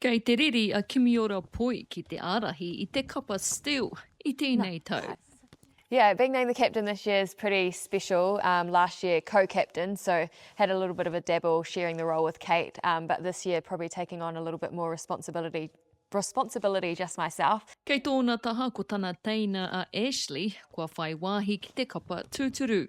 Kei te riri a Kimiora Poi ki te ārahi i te kapa Steele i tēnei tau. Yeah, being named the captain this year is pretty special. Um, last year, co-captain, so had a little bit of a dabble sharing the role with Kate, um, but this year probably taking on a little bit more responsibility responsibility just myself. Kei tōna taha ko tana teina a Ashley, kua whai wāhi ki te kapa tūturu.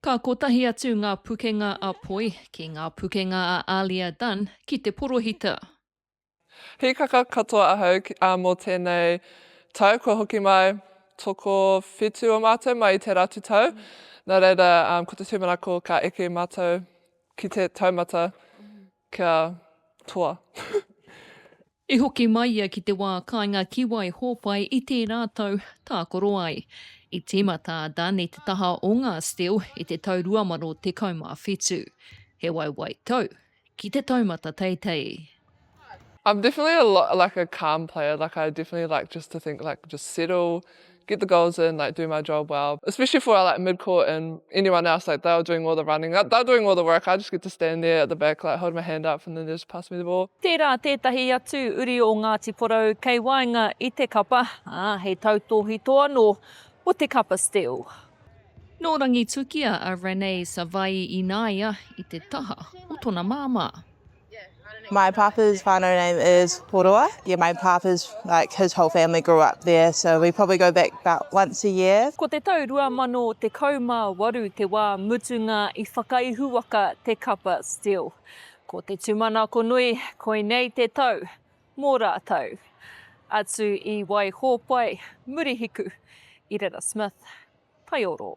Ka kotahi atu ngā pukenga a Poi ki ngā pukenga a Alia Dunn ki te porohita. Hīkaka katoa ahau mō tēnei tau kua hoki mai, tokowhitu o mātou mai i te Ratutau, nā reira ko te tūmanako ka eke mātou ki te taumata. Kia toa. I hoki mai ia ki te wā kāinga ki Waihōpai i tērā tau tākaro ai. I tīmata a Dunn i te taha o ngā Steele i te tau 2017. He waiwai tau ki te taumata teitei. I'm definitely a lot like a calm player, like I definitely like just to think like just settle, get the goals in, like do my job well, especially for our like mid court and anyone else, like they were doing all the running, they were doing all the work, I just get to stand there at the back like holding my hand up and then they just pass me the ball. Tērā tētahi atu uri o Ngāti Porou kei waenga i te kapa, ā, he tautōhito anō o te kapa steel. Nō Rangitukia a Renee Savai'i Inaia i te taha o tona māmā. My papa's whānau name is Poroa. Yeah, my papa's, like, his whole family grew up there, so we probably go back about once a year. Ko te tau 2018 te wā mutunga i whakaihuwaka te kapa Still. Ko te tūmanako nui, koinei te tau mō rātou. Atu i Waihōpai, Murihiku, i reira Smith. Taioro.